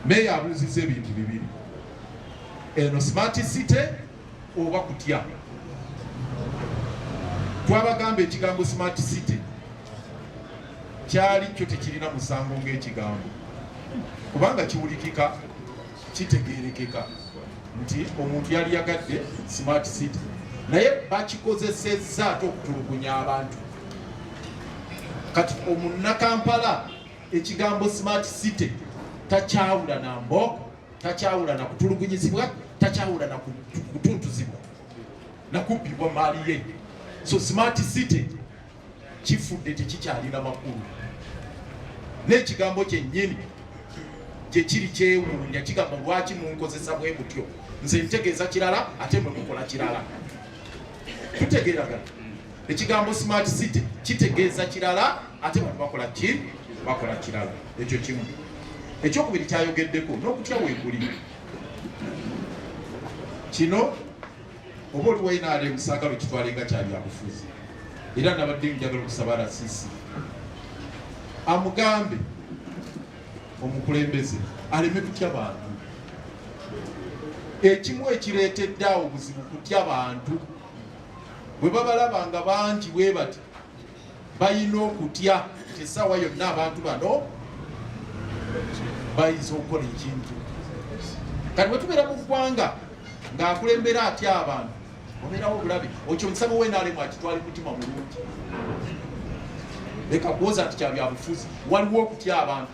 Meeya abuuzizza ebintu bibiri, eno smart city oba kutya. Twabagamba ekigambo smart city kyali kyo tekirina musango ng'ekigambo, kubanga kiwulikika, kitegeerekeka nti omuntu yali yagadde smart city, naye bakikozesezza ate okutulugunya abantu. Kati omunnakampala Ekigambo smart city takyawula na mbooko, takyawula na kutulugunyizibwa, takyawula na kutuntuzibwa na kubbibwa maali ye. So smart city kifudde tekikyalina makulu, n'ekigambo kyennyini gye kiri kyewuunya kigamba lwaki munkozesa bwe mutyo, nze ntegeeza kirala ate mwe mukola kirala. Tutegeeragana. Ekigambo smart city kitegeeza kirala ate bantu bakola ki bakola kirala. Ekyo kimu. Ekyokubiri kyayogeddeko n'okutya weekuli kino oba oli wainaale musaagala okitwale nga kyabyabufuzi era nabadde njagala okusaba rasisi amugambe omukulembeze aleme kutya bantu ekimu ekireetedde awo buzibu kutya bantu bwe babalaba nga bangi bwe bati balina okutya nti essaawa yonna abantu bano bayinza okukola ekintu kati bwe tubeera mu ggwanga ng'akulembera atya abantu obeerawo obulabe okyo omusabo wenaalemu akitwali mutima mulungi leka kuwoza nti kyabyabufuzi waliwo okutya abantu